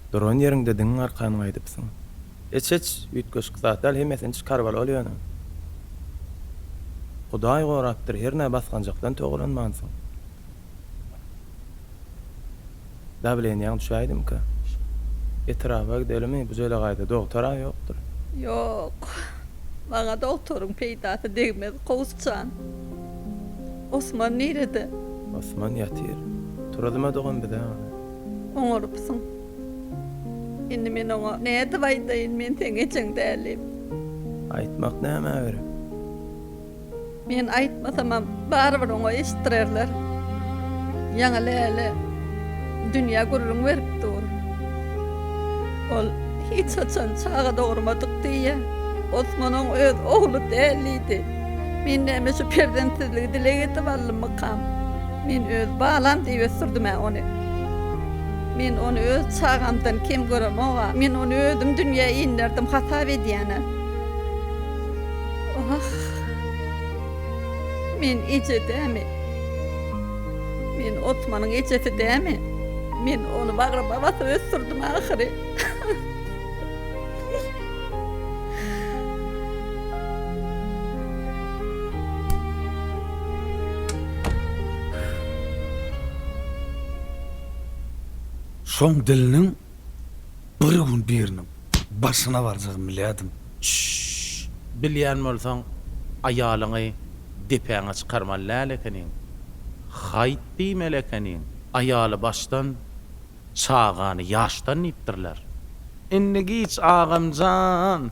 Duran ýeriňde diňiň arkan gaýdypsyň. Iç iç, üýtgeşik zat däl hemmesini çykar bol ol ýöne. Hudaý gorapdyr hernä basganjakdan togalanmansyň. Dawleniýaň düşäýdimika. Etraba gidelimi, bu jelegaýda dogtar-a ýokdur. Ýok. Maňa dogtoryň peýdasy degmez, Kowus jan. Osman nirede? Osman ýatyr. Turuzmadyk on bize ony. Oňarypsyň. Indi men oňa nädip aýdaýyn, men seň ejeň dälim. Aýtmak nämä gerek? Men aýtmasamam, barybir oňa eşitdirerler. Ýaňy Läle dünýä gürrüň berip dur. Ol hiç haçan çaga dogurmadyk diýýä. Osman oň öz ogly däl diýdi. Men näme şu perzentsizligi dileg edip aldymmykam? Men öz balam diýip ösdürdüm-ä ony. Men ony öz çagamdan kem göremog-a. Men ony özüm dünýä inderdim hasap edýän-ä. Ah! Men eje dämi? Men Otmanyň ejesi dämi? Men ony bagryma basyp ösdürdim ahyry. Şoň diliniň Bir gün biriniň başyna barjagyny bilýärdim. Şşşşşş. Bilýän bolsaň, aýalyňy depäňe çykarmaly däl ekeniň. Haýt diýmeli ekeniň. Aýaly başdan, çagany ýaşdan diýipdirler. Indi giç, agam jan!